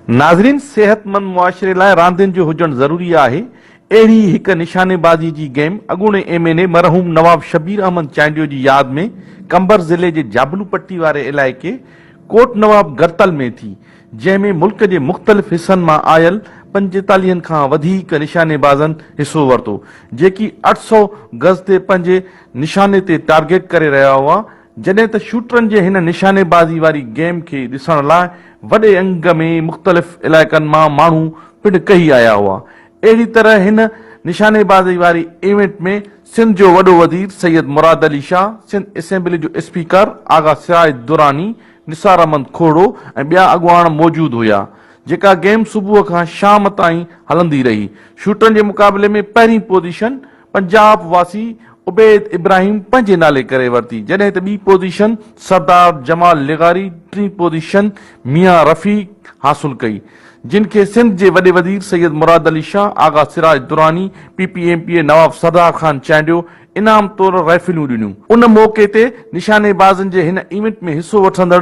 ناظرين صحت مند معاشري لاء راندين جو هجڻ ضروري آهي اهڙي ئي هڪ نشاني بازي جي گيم اڳوڻي ايم اين اي مرحوم نواب شبير احمد چانڊيو جي ياد ۾ قمبر ضلعي جي جابلو پٽي واري علائقي ڪوٽ نواب گرتل ۾ ٿي جنهن ۾ ملڪ جي مختلف حصن مان آيل پنجيتاليهن کان وڌيڪ نشاني بازن حصو ورتو جيڪي اٺ سؤ گز تي پنهنجي نشاني تي ٽارگيٽ ڪري رهيا هئا جڏهن ته شوٽرن جي هن نشانيبازي واري گيم کي ڏسڻ لاء وڏي انگ ۾ مختلف علائقن مان ماڻهو پڻ ڪهي آيا هئا. اهڙي طرح هن نشانيبازي واري ايونٽ ۾ سنڌ جو وڏو وزير سيد مراد علي شاهه، سنڌ اسيمبلي جو اسپيڪر آغا سراج دراني، نثار احمد کوهڙو ۽ ٻيا اڳواڻ موجود هيا. جيڪا گيم صبح کان شام تائين هلندي رهي. شوٽرن جي مقابلي ۾ پهرين پوزيشن پنجاب واسي عبيد ابراهيم پنهنجي نالي ڪري ورتي جڏهن ته ٻي پوزيشن سردار جمال لغاري ٽين پوزيشن ميان رفيق حاصل ڪئي جن کي سنڌ جي وڏي وزير Syed Murad Ali Shah Agha Siraj Durrani P P M P A Nawab Sardar Khan Chandio انعام طور رائفليون ڏنيون. ان موقعي تي نشانيبازن جي هن ايونٽ ۾ حصو وٺندڙ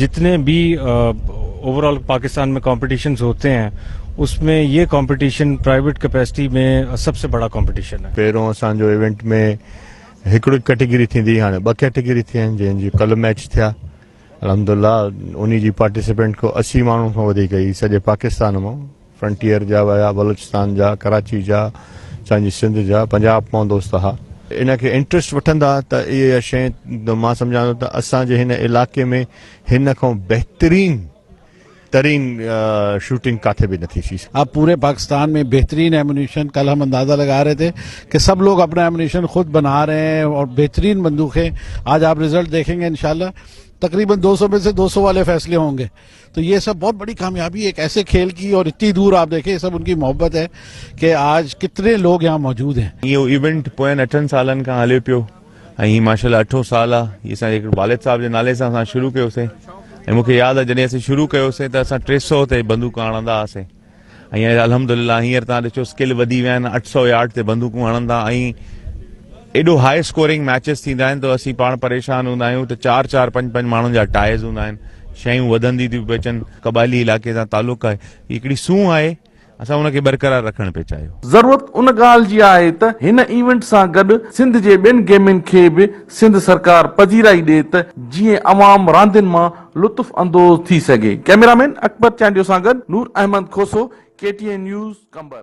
جتني به اوور آل پاڪستان ۾ ڪمپيٽيشنز هوتي هين اس ۾ هي ڪمپيٽيشن پرائيويٽ ڪپيسٽي ۾ سب سي بڙا ڪمپيٽيشن هي. پهريون اسان جو ايونٽ ۾ هڪڙي ڪيٽيگري ٿيندي هئي هاڻي ٻه ڪيٽيگري ٿي آهن جنهن جي ڪلهه ميچ ٿيا الحمدالله انهي جي پارٽيسپينٽ ڪو اسي ماڻهن کان وڌيڪ هئي سڄي پاڪستان مان. فرنٽيئر جا ويا بلوچستان جا ڪراچي جا اسان جي سنڌ جا پنجاب پون دوست ها ان کي انٽرسٽ وٺندا ته اهي شي مان سمجهان ٿو ته اسان جي هن علاقي ۾ هن کان بهترين ترين شوٽنگ ڪاٿي به نٿي ٿي سگهي اب پوري پاڪستان ۾ بهترين ايمونيشن کل هم اندازه لگا رهي ٿي ڪي سڀ لوگ اپنا ايمونيشن خود بنا رهي هي اور بهترين بندوخي آج آپ رزلٽ ديکين گي انشاء الله تقريبن دو سو مي سي دو سو والي فيصلي هونگي تو يي سب بهت بڙي ڪاميابي ايڪ ايسي کيل ڪي اور اتني دور آپ ديکي سب انڪي محبت هي ڪي آج ڪتني لوگ يهان موجود هين. اهو ايونٽ پوين اٺن سالن کان هلي پيو ۽ هي ماشاء الله اٺون سال آ هي اسان جي والد صاحب جي نالي سان اسان شروع ڪيو سين ۽ مونکي ياد آ جڏهن اسين شروع ڪيو سين ته اسان ٽي سئو تي بندوقا هڻندا هئا سين ۽ الحمدلله هينئر تان ڏسو اسڪل وڌي ويا آهن اٺ سؤ يارڊ تي بندوقون هڻن ٿا ۽ ايڏو هاء اسڪورنگ ميچز ٿيندا آهن ته اسين پاڻ پريشان هوندا آهيون ته چار چار پنج پنج ماڻهن جا ٽائز هوندا آهن شيون وڌندي ٿيون پيون اچن قبائلي علاقي سان تعلق آهي هي هڪڙي سونهن آهي اسان ان کي برقرار رکڻ پئي چاهيو ضرورت ان ڳالهه جي آهي ته هن ايونٽ سان گڏ سنڌ جي ٻين گيمن کي به سنڌ سرڪار پذيرائي ڏي ته جيئن عوام راندين مان لطف اندوز ٿي سگهي. ڪئميرا مين اڪبر چانڊيو سان گڏ Noor Ahmed Khoso, K T N news, Qambar.